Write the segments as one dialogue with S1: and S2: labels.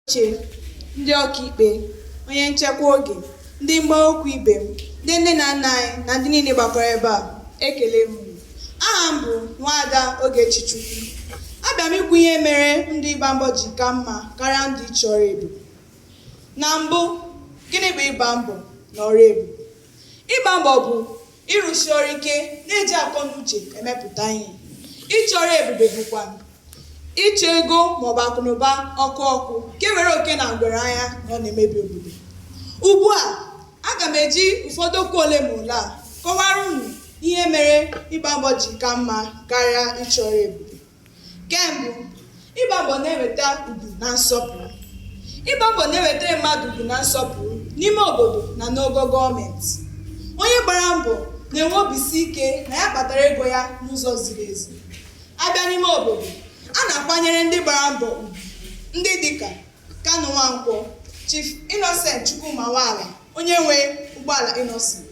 S1: oche, ndị ọkaikpe, onye nchekwa oge, ndị mgba okwu ibe m, ndị nne na nna anyị na ndị niile gbakọrọ ebe a, ekele m unu. Aha m bụ Nwaada Ogechi Chukwu. Abịa m ikwu ihe mere ndụ ịgba mbọ ji ka mma karịa ndụ ịchọ ọrụ ebube. Na mbụ, gịnị bụ ịgba mbọ na ọrụ ebube? Ịgba mbọ bụ ịrụsi ọrụ ike na-eji akọ na uche emepụta ihe ịchọ ọrụ ebube bụkwa ịchọ ego maọbụ akụnụba ọkụ ọkụ nke were oke na ngwere anya na ọ na-emebi obodo ugbu a aga m eji ụfọdụ okwu ole ma ole a kọwara unu ihe mere ịgba mbọ ji ka mma karịa ịchọ ọrụ ebube Nke mbụ, ịgba mbọ na-eweta ugwu na nsọpụrụ. Ịgba mbọ na-ewetara mmadụ ugwu na nsọpụrụ n'ime obodo na n'ogo gọọmenti. Onye gbara mbọ na-enwe obisi ike na ya kpatara ego ya n'ụzọ ziri ezi. Abịa n'ime obodo, a na-akwanyere ndị gbara mbọ ugwu ndị dịka Kanu Nwankwo, Chief Innocent Chukwuma Nwala, onye nwe ụgbọala Innoson,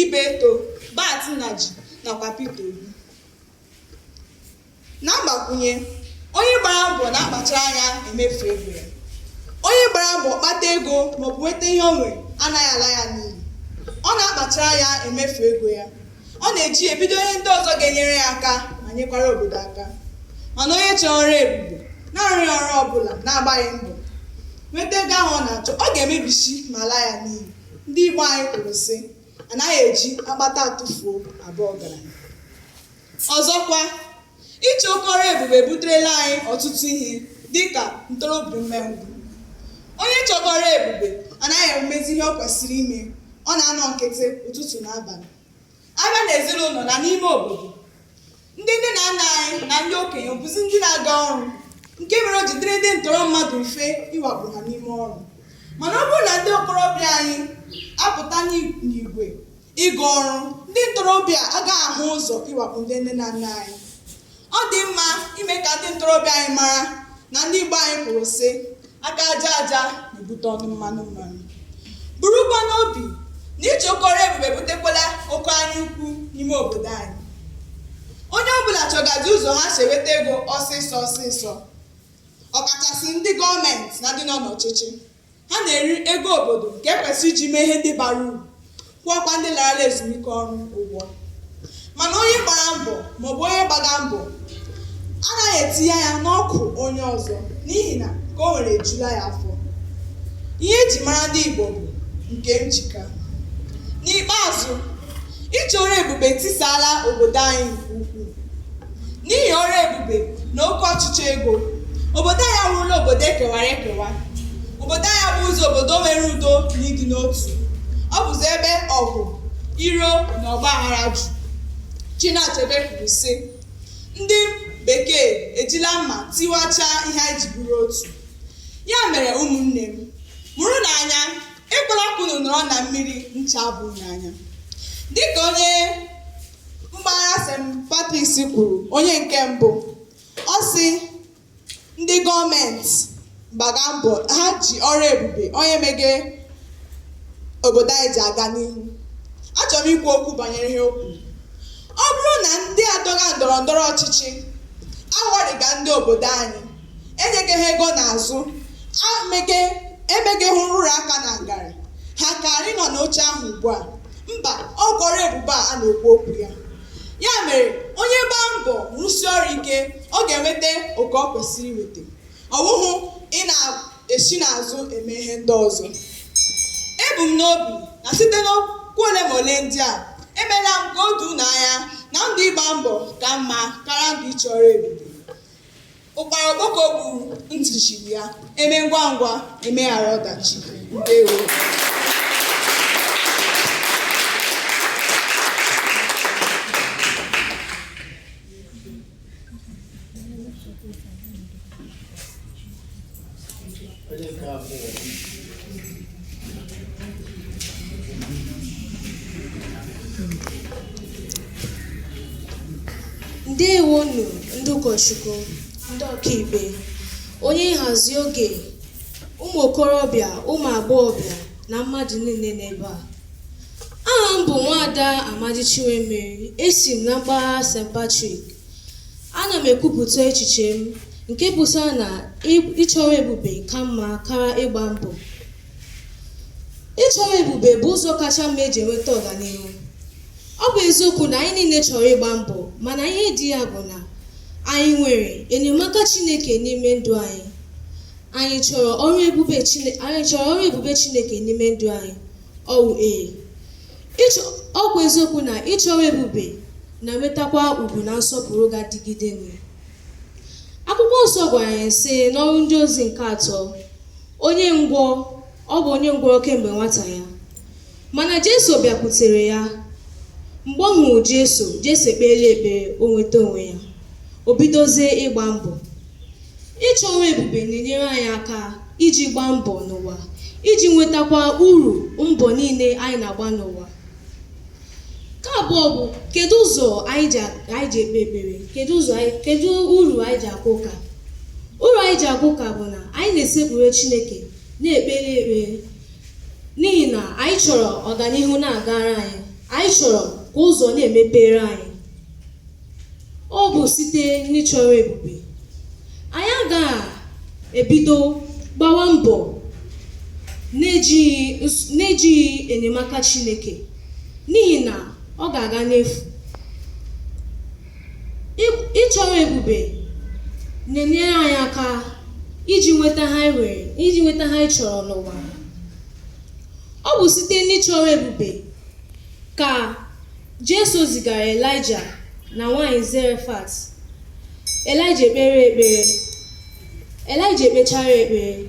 S1: Ibeto, Bart Nnaji nakwa Peter Obi. Na mgbakwunye, onye gbara mbọ na-akpachara anya emefu ego ya. Onye gbara mbọ kpata ego maọbụ nweta ihe o nwere anaghị ala ya n'iyi. Ọ na-akpachara anya emefu ego ya. Ọ na-eji ya ebido ihe ndị ọzọ ga-enyere ya aka ma nyekwara obodo aka. Mana onye chọrọ ọrụ ebube, na-arụghị ọrụ ọbụla, na-agbaghị mbọ nweta ego ahụ ọ na-achọ, ọ ga-emebisi ma laa ya n'iyi. Ndị Igbo anyị kwuru sị anaghị eji akpata atụfuo abụ ọgaranya ọzọkwa ịchọ oke ọrụ ebube ebuterela anyị ọtụtụ ihe dịka ntorobịa umengwụ onye chọga ọrụ ebube anaghị emezi ihe ọ kwesịrị ime ọ na-anọ nkịtị ụtụtụ na abalị abịa na ezinụlọ na n'ime obodo ndị nne na nna anyị na ndị okenye bụzi ndị na-aga ọrụ nke mere o ji dịrị ndị ntọrọ mmadụ mfe ịwakpo ha n'ime ọrụ mana ọ bụrụ na ndị okorobịa anyị apụta n'i- n'igwe ịga ọrụ ndị ntorobịa agaghị ahụ ụzọ ịwakpo ndị nne na nna anyị ọ dị mma ime ka ndị ntorobịa anyị mara na ndị Igbo anyị kwuru sị aka aja aja na-ebute ọnụ mmanụ mmanụ burukwa n'obi na ịchọ oke ọrụ ebube ebutekwala oke anya ukwu n'ime obodo anyị onye ọbụla chọgazi ụzọ ha si enweta ego ọsịsọ ọsịsọ ọkachasị ndị gọọmenti na ndị nọ n'ọchịchị ha na-eri ego obodo nke ekwesị iji mee ihe ndị bara uru kwụọkwa ndị larala ezumike ọrụ ụgwọ mana onye gbara mbọ maọbụ onye gbaga mbọ anaghị etinye anya n'akụ onye ọzọ n'ihi na nke o nwere ejula ya afọ ihe eji mara ndị Igbo bụ nke m ji ka n'ikpeazụ ịchọ ọrụ ebube etisaala obodo anyị nke ukwuu N'ihi ọrụ ebube na oke ọchịchọ ego, obodo anyị awụrụla obodo e kewara ekewa. Obodo anyị abụghịzi obodo nwere udo na ịdị n'otu. Ọ bụzi ebe ọgụ, iro na ọgba aghara juru. Chinua Achebe kwuru, sị, Ndị Bekee ejila mma tiwachaa ihe anyị ji bụrụ otu. Ya mere ụmụnne m, mụrụnụ anya, ekwela ka unu nọrọ na mmiri ncha abaa unu n'anya. Dị ka onye mgbagha St. Patrick's kwuru onye nke mbụ ọ sị ndị gọọmenti gbaga mbọ ha ji ọrụ ebube onye mege obodo anyị ji aga n'ihu achọrọ m ikwu okwu banyere ihe o kwuru ọ bụrụ na ndị adọga ndọrọ ndọrọ ọchịchị aghọrịga ndị obodo anyị enyegeghị ego n'azụ emegeghị nrụrụ aka na ngarị ha karị nọ n'oche ahụ ugbu a mba ọ bụ ọrụ ebube a a na-ekwu okwu ya ya mere onye gbaa mbọ rụsie ọrụ ike ọ ga-enweta oke ọ kwesịrị inweta ọ bụghị ị na-esi n'azụ eme ihe ndị ọzọ ebu m n'obi na site n'okwu ole ma ole ndị a emeela m ka o doo unu anya na ndụ ịgba mbọ ka mma karịa ndụ ịchọ ọrụ ebube ụkpara okpoko gburu ntị chiri ya eme ngwa ngwa emeghara ọdachi ndewo
S2: ndewonu ndị ụkọchukwu ndị ọkaikpe onye nhazi oge ụmụ okorobịa ụmụ agbọghọbịa na mmadụ niile n'ebe a aha m bụ nwaada amadi chinwemeri esi m na mpaghara st patrick ana m ekwupụta echiche m nke pụtara na ịchọ ọrụ ebube ka mma karịa ịgba mbọ ịchọ ọrụ ebube bụ ụzọ kacha mma e ji enweta ọganihu ọ bụ eziokwu na anyị niile chọrọ ịgba mbọ mana ihe dị ya bụ na anyị nwere enyemaka chineke n'ime ndụ anyị anyị chọrọ ọrụ ebube chineke n'ime ndụ anyị ọwụ ee ọ bụ eziokwu na ịchọ ọrụ ebube na-enwetakwa ugwu na nsọpụrụ ga-adịgide nwe akwụkwọ nsọ gwara anyị sị n'ọrụ ndị ozi nke atọ onye ngwọ ọ bụ onye ngwọrọ kemgbe nwata ya mana jesu bịakwutere ya mgbe ọ hụrụ jesu jesu ekpeela ekpere o nweta onwe ya o bidozie ịgba mbọ Ịchọ ọrụ ebube na-enyere anyị aka iji gbaa mbọ n'ụwa, iji nwetakwa uru mbọ niile anyị na-agba n'ụwa. Nke abụọ bụ kedu ụzọ anyị ji ekpe ekpere? Kedu uru anyị ji aga ụka? Uru anyị ji aga ụka bụ na anyị na-esekpuru Chineke na-ekpere ekpere n'ihi na anyị chọrọ ọganihu na-agara anyị, anyị chọrọ ka ụzọ na-emepere anyị. ọ bụ site n'ịchọ ọrụ ebube anyị agaghị ebido gbawa mbọ n'ejighị enyemaka Chineke n'ihi na ọ ga-aga n'efu ịchọ ọrụ ebube na-enyere anyị aka iji nweta ihe anyị chọrọ n'ụwa ọ bụ site n'ịchọ ọrụ ebube ka Jesu zigara Elaịja na nwaanyị Zerefat. Elaịja ekpee ekpere. Elaịja ekpechara ekpere.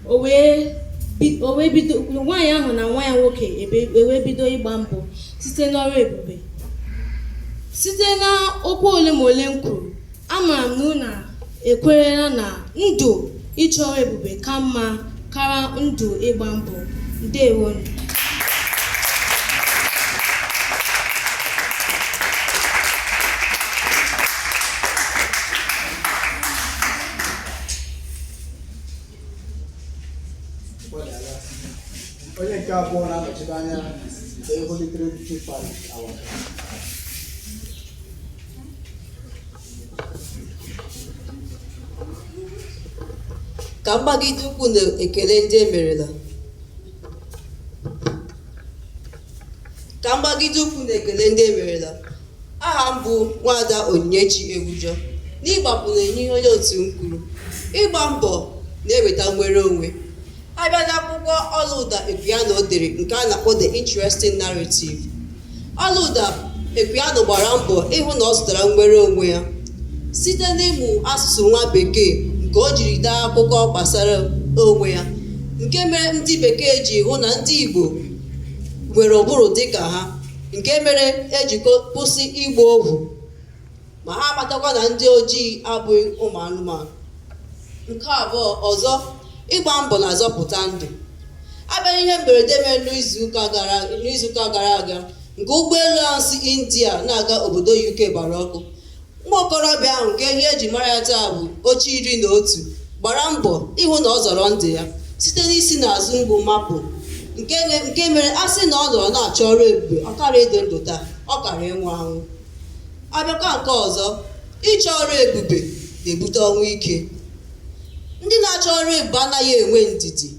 S2: O wee bi- o wee bido nwaanyị ahụ na nwa ya nwoke ebe- ewee bido ịgba mbọ site n'ọrụ ebube. Site n'okwu ole ma ole m kwuru, Amara m na unu ekwerela na ndụ ịchọ ọrụ ebube ka mma kara ndụ ịgba mbọ.
S3: Ndewonu. onye nke abụọ na-anọchite anya nke Holy Trinity Parish Awaka
S4: ka m gbagide ụkwụ n'ekele ndị e merela aha m bụ nwada onyinyechi egbujọ n'ịgbakwụnye ihe onye otu m kwuru ịgba mbọ na-eweta nnwere onwe a bịa n'akwụkwọ ọlaụda Equiano dere nke a na-akpọ The Interesting Narrative ọlaụda Equiano gbara mbọ ịhụ na ọ zụtara nnwere onwe ya site n'ịmụ asụsụ nwa bekee nke o jiri dee akụkọ gbasara onwe ya nke mere ndị bekee ji hụ na ndị Igbo nwere ụbụrụ dịka ha nke mere e ji kwụsị ịgba ohu ma ha amatakwa na ndị ojii abụghị ụmụ anụmanụ nke abụọ ọzọ ịgba mbọ na-azọpụta ndụ a bịa ihe mberede mere n'izuụka gara aga nke ụgbọelu ahụ si india na-aga obodo uk gbara ọkụ nwa okorobịa ahụ nke ihe e ji mara ya taa bụ oche iri na otu gbara mbọ ịhụ na ọ zọrọ ndụ ya site n'isi n'azụ mgbo mapụ nke mere a sị na ọ nọrọ na-achọ ọrụ ebube ọ karaghị ịdị ndụ taa ọ kara ịnwụ anwụ a bịakwa nke ọzọ ịchọ ọrụ ebube na-ebute ọnwụ ike ndị na-achọ ọrụ ebube anaghị enwe ndidi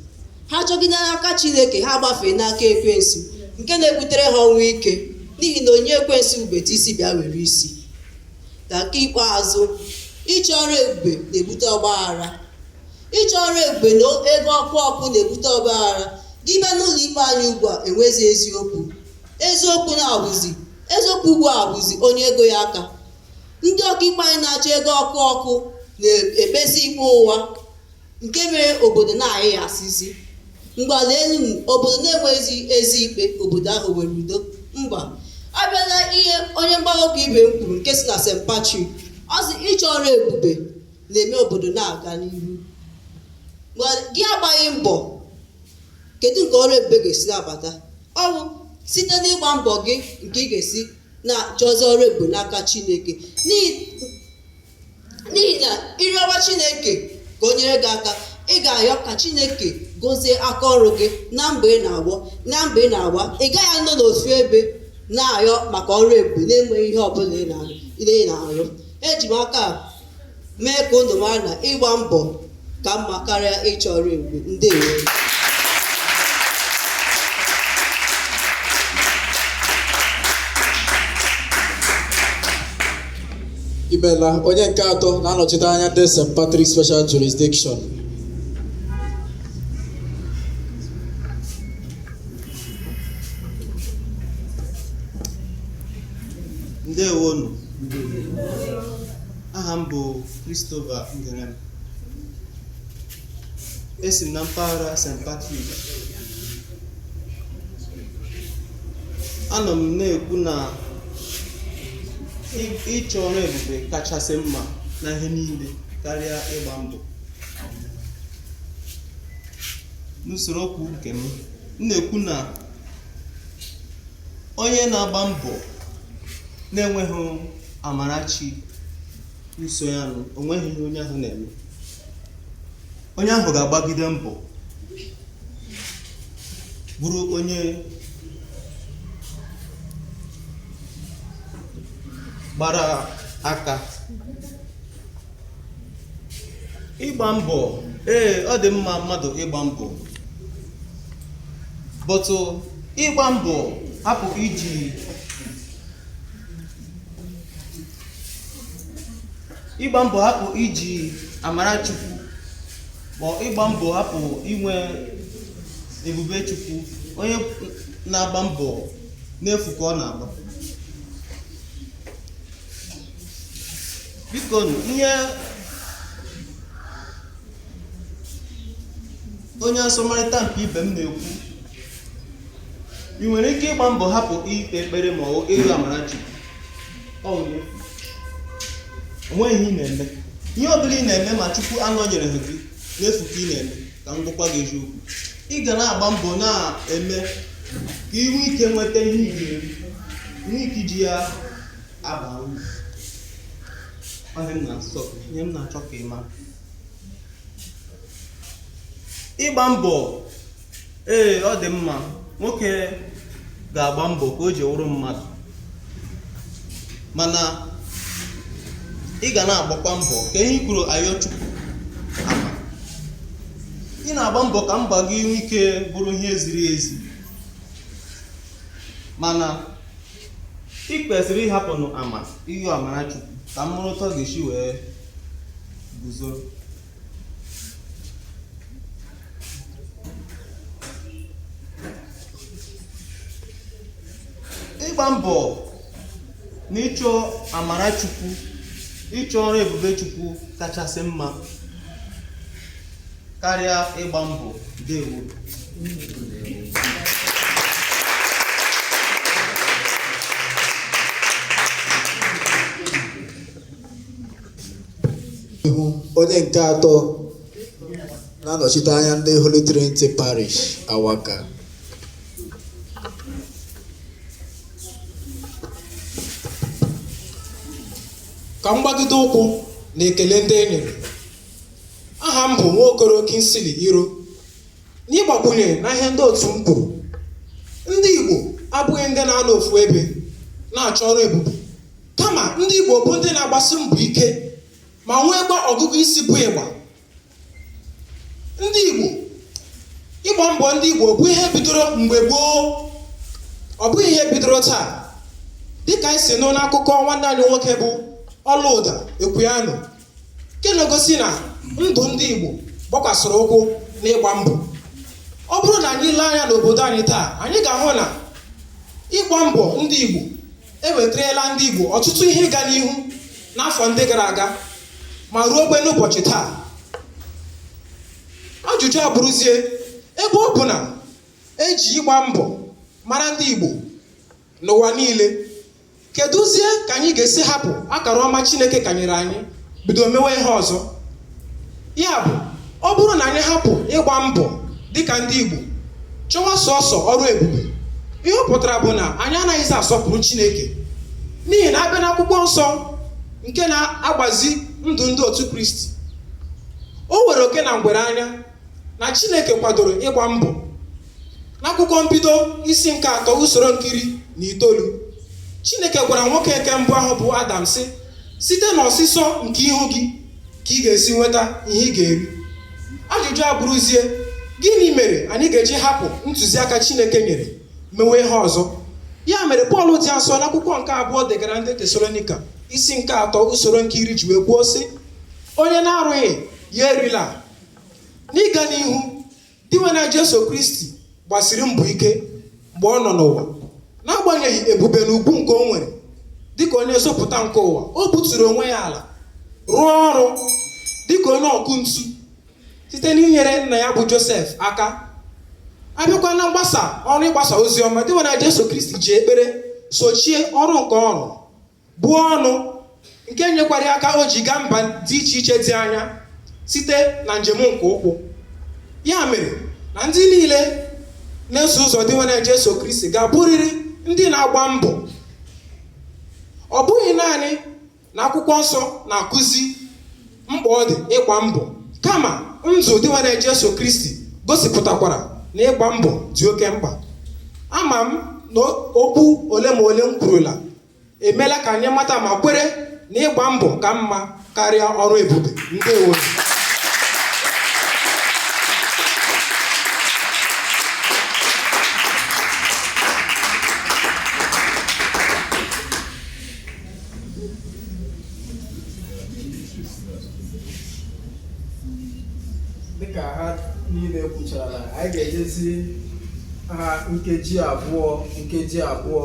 S4: ha chọgide n'aka chineke ha gbafee n'aka ekwensu nke na-ebutere ha ọnwụ ike n'ihi na onye ekwensu bubeta isi bịa were isi na nke ikpeazụ ịchọ ọrụ ebube na-ebute ọgba aghara ịchọ ọrụ ebube na ego ọkụ ọkụ na-ebute ọgba aghara gị bịa n'ụlọ ikpe anyị ugbu a enwezi eziokwu eziokwu na-abụzi eziokwu ugbu a bụzi onye ego ya aka ndị ọkaikpe anyị na-achọ ego ọkụ ọkụ na-ekpezi ikpe ụwa nke mere obodo na-ayị ya asịzi mgbala elu obodo na-enweghịzi ezi ikpe obodo ahụ nwere udo mba a bịa na ihe onye mgba okwu ibe m kwuru nke si na St. Patrick ọ sị ịchọ ọrụ ebube na-eme obodo na-aga n'ihu gị agbaghị mbọ kedu nke ọrụ ebube ga-esi na-abata ọ bụ site n'ịgba mbọ gị nke ị ga-esi na-achọzi ọrụ ebube n'aka chineke n'ihi n'ihi na ị rịọwa chineke ka o nyere gị aka ị ga-ayọ ka chineke gozie aka ọrụ gị na mbọ ị na-agba na mbọ ị na-agba ị gaghị anọ n'ofu ebe na-ayọ maka ọrụ ebube na-enweghị ihe ọbụla ị na- ị na-arụ eji m aka a mee ka unu mara na ịgba mbọ ka mma karịa ịchọ ọrụ ebube ndewo
S3: imela onye nke atọ na-anọchite anya ndị St. Patrick Special Jurisdiction
S5: ndewonu aha m bụ Christopher Ngerem esi m na mpaghara St. Patrick anọ m na-ekwu na ị- ịchọ ọrụ ebube kachasị mma na ihe niile karịa ịgba mbọ n'usoro okwu nke m m na-ekwu na onye na-agba mbọ na-enweghị amara chi na-eso ya nụ o nweghị ihe onye ahụ na-eme onye ahụ ga-agbagide mbọ bụrụ onye gbara aka ịgba mbọ ee ọ dị mma mmadụ ịgba mbọ but ịgba mbọ hapụ iji ịgba mbọ hapụ iji amara chukwu ma ịgba mbọ hapụ inwe ebube chukwu onye na-agba mbọ n'efu ka ọ na-agba biko ihe onye asọmarịta nke ibe m na-ekwu ị nwere ike ịgba mbọ hapụ ikpe ekpere ma ọ ịrịọ amara Chukwu o nwe onweghị ihe ị na-eme ihe ọ bụla ị na-eme ma Chukwu anọnyereghị gị n'efu ka ị na-eme ka m gwakwa gị eziokwu ị ga na-agba mbọ na-eme ka ị nwee ike nweta ihe ị ga-eri nwee ike iji ya ịgba mbọ ee ọ dị mma nwoke ga-agba mbọ ka o ji wụrụ mmadụ mana ị ga na-agbakwa mbọ ka ihe kwuru ayọ Chukwu ama ị na-agba mbọ ka mbọ gị nwee ike bụrụ ihe ziri ezi mana I kwesịrị ịhapụnụ ama ịyọ amara Chukwu ka m mụrụ otu ọ ga-esi wee guzo. Ịgba mbọ na ịchọ amara Chukwu, ịchọ ọrụ ebube Chukwu kachasị mma. karịa
S3: ịgba mbọ ndewo nụ onye nke atọ na-anọchite anya ndị Holy Trinity Parish Awaka ka m gbagide ụkwụ na ekele ndị e nyere aha m bụ Nwaokoro Kingsley Iro n'ịgbakwunye na ihe ndị otu m kwuru ndị Igbo abụghị ndị na-anọ ofu ebe na-achọ ọrụ ebube kama ndị Igbo bụ ndị na-agbasi mbọ ike ma nweekwa ọgụgụ isi bụ ịgba ndị Igbo ịgba mbọ ndị Igbo bụ ihe bidoro mgbe gboo ọ bụghị ihe bidoro taa dịka anyị si nụ n'akụkọ nwanne anyị nwoke bụ Olaudah Equiano nke na-egosi na ndụ ndị Igbo gbakwasịrị ụkwụ n'ịgba mbọ ọ bụrụ na anyị lee anya n'obodo anyị taa anyị ga-ahụ na ịgba mbọ ndị Igbo ewetarala ndị Igbo ọtụtụ ihe ịga n'ihu n'afọ ndị gara aga ma ruokwa n'ụbọchị taa ajụjụ abụrụzie ebe ọ bụ na eji ịgba mbọ mara ndị Igbo n'ụwa niile kedụzie ka anyị ga-esi hapụ akara ọma Chineke kanyere anyị bido mewe ihe ọzọ ya bụ ọ bụrụ na anyị hapụ ịgba mbọ dịka ndị Igbo chọwa sọsọ ọrụ ebube ihe ọ pụtara bụ na anyị anaghịzi asọpụrụ Chineke n'ihi na abịa n'akwụkwọ nsọ nke na-agbazi ndụ ndị otu Kristi o were oke na ngwere anya na Chineke kwadoro ịgba mbọ n'akwụkwọ mbido isi nke atọ usoro nke iri na itoolu Chineke gwara nwoke nke mbụ ahụ bụ Adam sị site n'ọsịsọ nke ihu gị ka ị ga-esi nweta ihe ị ga-eri ajụjụ abụrụzie gịnị mere anyị ga-eji hapụ ntụziaka Chineke nyere mewe ihe ọzọ ya mere Pọl dị asọ n'akwụkwọ nke abụọ degara ndị Tesalonika isi nke atọ usoro nke iri ji wee kwuo sị onye na-arụghị ya erila n'ịga n'ihu dinwenụ jesu kristi gbasiri mbọ ike mgbe ọ nọ n'ụwa n'agbanyeghị ebube na ugwu nke o nwere dịka onye nzọpụta nke ụwa o buturu onwe ya ala rụọ ọrụ dịka onye ọkụ ntu site n'inyere nna ya bụ josef aka abịakwa na mgbasa ọrụ ịgbasa ozi ọma dinwenụ jesu kristi ji ekpere sochie ọrụ nke ọ rụrụ buo ọnụ nke nyekwara aka o ji gaa mba dị iche iche dị anya site na njem nke ụkwụ ya mere na ndị niile na-eso ụzọ Dinwenụ Jesu Kristi ga-abụrịrị ndị na-agba mbọ ọ bụghị naanị na akwụkwọ nsọ na-akụzi mkpa ọ dị ịgba mbọ kama ndụ Dinwenụ Jesu Kristi gosipụtakwara na ịgba mbọ dị oke mkpa ama m na okwu ole ma ole m kwurula emeela ka anyị mata ma kwere na ịgba mbọ ka mma karịa ọrụ ebube ndewo
S6: dịka ha niile kwuchara anyị ga-enyezi ha nkeji abụọ nkeji abụọ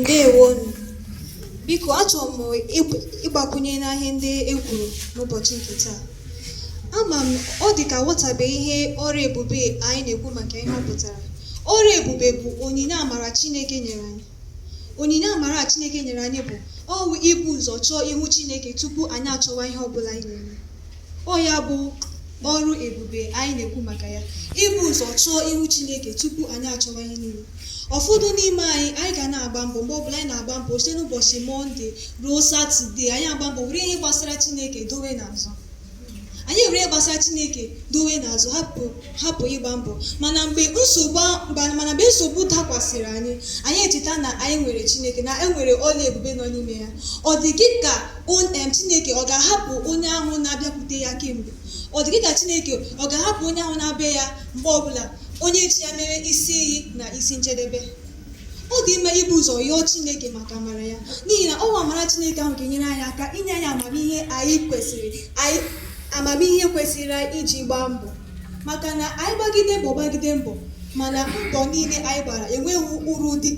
S2: ndewonu biko achọrọ m ịgbakwunye n'ihe ndị e kwuru n'ụbọchị nke taa ama m ọ dị ka aghọtabeghị ihe ọrụ ebube anyị na-ekwu maka ihe ọ pụtara ọrụ ebube bụ onyinye amara Chineke nyere anyị onyinye amara Chineke nyere anyị bụ ọ wụ ibu ụzọ chọọ ihu Chineke tupu anyị achọwa ihe ọ bụla anyị na-eme ọ ya bụ ọrụ ebube anyị na-ekwu maka ya ibu ụzọ chọọ ihu chineke tupu anyị achọwa ihe niile ụfọdụ n'ime anyị anyị ga na-agba mbọ mgbe ọbụla anyị na-agba mbọ site n'ụbọchị mọnde ruo satọde anyị agba mbọ were ihe gbasara chineke dowe n'azụ anyị were ihe gbasara chineke dowe n'azụ hapụ hapụ ịgba mbọ mana mgbe nsogbu dakwasịrị anyị anyị echeta na anyị nwere chineke na enwere ọrụ ebube nọ n'ime ya ọ dị gị ka em chineke ọ ga-ahapụ onye ahụ na-abịakwute ya kemgbe ọ dị gị ka chineke ọ ga-ahapụ onye ahụ na-abịa ya mgbe ọbụla onye ji ya mere isi iyi na isi njedebe ọ dị mma ibu ụzọ yọọ Chineke maka amara ya n'ihi na ọ wụ amara Chineke ahụ ga-enyere anyị aka inye anyị amamihe anyị kwesịrị anyị amamihe kwesịrị anyị iji gbaa mbọ maka na anyị gbagide mbọ gbagide mbọ mana mbọ niile anyị gbara enweghị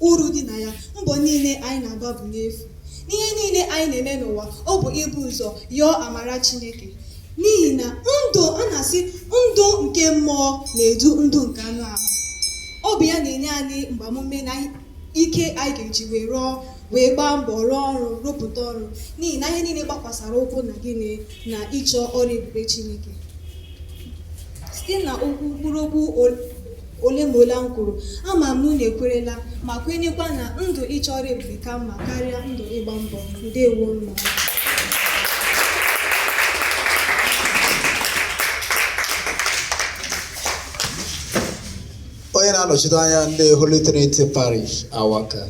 S2: uru dị na ya mbọ niile anyị na-agba bụ n'efu n'ihe niile anyị na-eme n'ụwa ọ bụ ibu ụzọ yọọ amara Chineke n'ihi na ndụ a na-asị ndụ nke mmụọ na-edu ndụ nke anụ ahụ ọ bụ ya na-enye anyị mgbamume na ike anyị ga-eji wee rụọ wee gbaa mbọ rụọ ọrụ rụpụta ọrụ n'ihi na ihe niile gbakwasara ụkwụ na gịnị na ịchọ ọrụ ebube Chineke site na okwu mkpụrụ okwu ole ma ole m kwuru ama m na ekwerela ma kwenyekwa na ndụ ịchọ ọrụ ebube ka mma karịa ndụ ịgba mbọ ndewo mma
S7: onye na-anọchite anya ndị Holy Trinity Parish Awaka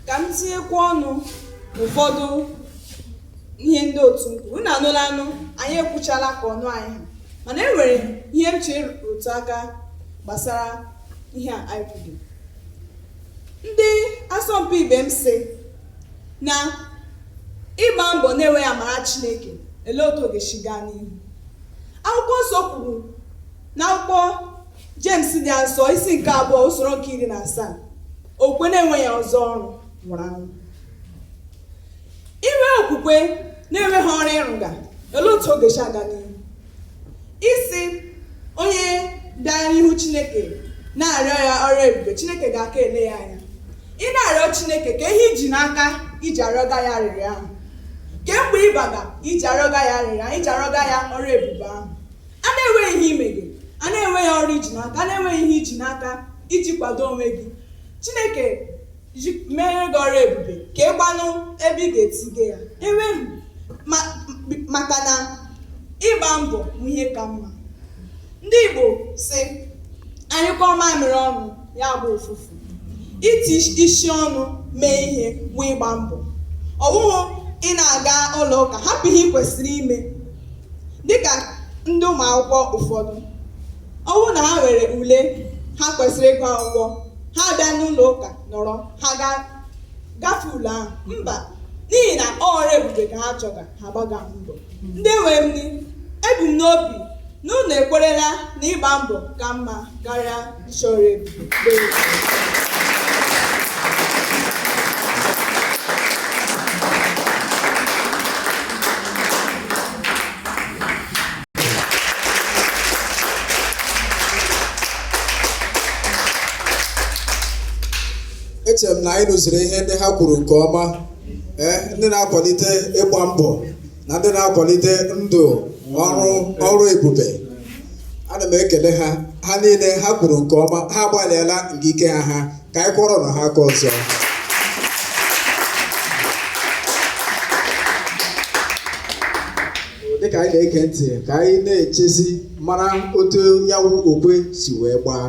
S1: ka m tinyekwa ọnụ ụfọdụ ihe ndị otu m kwuru unu anụla anụ anyị ekwuchala ka ọnụ anyị ha mana e nwere ihe m chọrọ ịrụtụ aka gbasara ihe a anyị kwuru ndị asọmpi ibe m sị na ịgba mbọ na-enweghị amara chineke elee otu ọ ga-esi gaa n'ihu akwụkwọ nsọ kwuru n'akwụkwọ James dị asọ isi nke abụọ usoro nke iri na asaa okwukwe na-enweghị ọzọ ọrụ nwụrụ anwụ i nwee okwukwe na-enweghị ọrụ ị rụga olee otu ọ ga-esi aga n'ihu ị sị onye bịara n'ihu chineke na-arịọ ya ọrụ ebube chineke ga-aka ele ya anya ị na-arịọ chineke kee ihe i ji n'aka iji arịọga ya arịrịọ ahụ kee mbọ ị gbaga iji arịọga ya arịrịọ ahụ iji arịọga ya ọrụ ebube ahụ a na-enweghị ihe i mege a na-enweghị ọrụ i ji n'aka a na-enweghị ihe i ji n'aka iji kwado onwe gị chineke mere gị ọrụ ebube ka ị gbanụ ebe ị ga-etige ya enwe maka na ịgba mbọ bụ ihe ka mma ndị igbo sị anyụkọọ mamịrị ọnụ ya gbaa ụfụfụ iti isi ọnụ mee ihe wụ ịgba mbọ ọ wụghụ ị na-aga ụlọ ụka hapụ ihe ị kwesịrị ime dịka ndị ụmụ akwụkwọ ụfọdụ ọ bụrụ na ha nwere ule ha kwesịrị ịgụ akwụkwọ ha bịa n'ụlọ ụka nọrọ ha gafee ule ahụ mba n'ihi na ọrụ ebube ka ha chọga ha gbaga mbọ ndị nwe m ebu m n'obi na unu ekwerela na ịgba mbọ ka mma karịa ịchọ ọrụ
S7: ebube echere m na anyị nụziri ihe ndị ha kwuru nke ọma ee ndị na-akwalite ịgba mbọ na ndị na-akwalite ndụ ọrụ ọrụ ebube ana m ekele ha ha niile ha kwuru nke ọma ha agbalịala nke ike ha ha ka anyị kụọrọnụ ha aka ọzọ dịka anyị na-ege ntị ka anyị na-echezi mara otu ya wụ okwe si wee gbaa